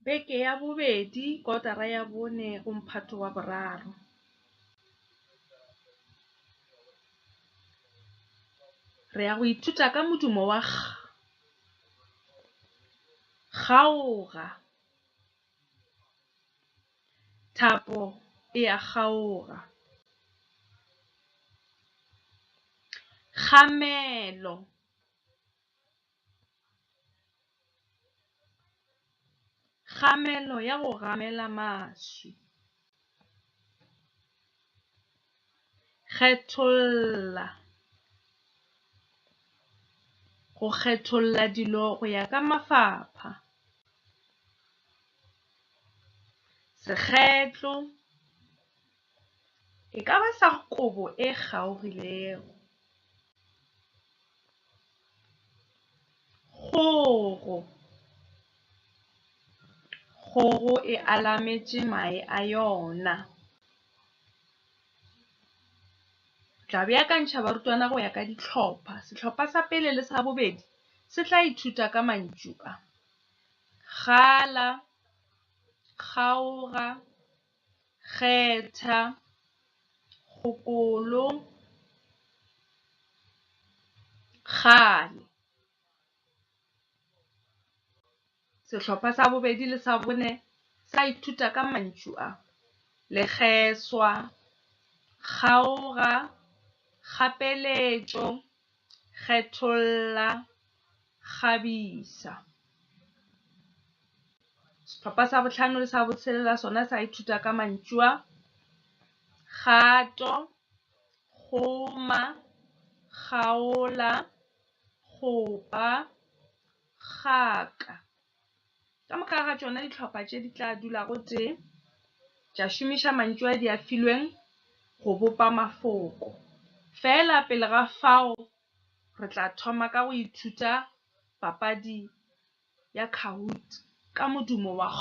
Beke ya bobedi, kotara ya bone go mphato wa boraro. Re ya go ithuta ka modumo wa G. Kgaoga. Thapo e a kgaoga. Kgamelo. Kgamelo ya go gamela maswi. Kgetholla, go kgetholla dilo go ya ka mafapha. Sekgetlo, E ka ba sa kobo e kgaogilego. Kgogo. Kgogo e alametše mae a yona. Tla beakantšha barutwana go ya ka ditlhopha. Setlhopha sa pele le sa bobedi se tla ithuta ka mantšu a, gala, kgaoga. Kgetha kgokolo kgale. Sehlopha sa bobedi le sa bone sa ithuta ka mantšu a, lekgeswa, kgaoga, kgapeletšo, kgetholla kgabisa. Sehlopha sa botlhano le sa botshelela sona sa ithuta ka mantšu a, kgato, kgoma, kgaola, kgopa, kgaka. Ka moka ga tšona dihlopha tše di tla dula gotee, tša šomiša mantšu a di a filweng go bopa mafoko. Feela pele ga fao re tla thoma ka go ithuta papadi ya Kahoot ka modumo wa G.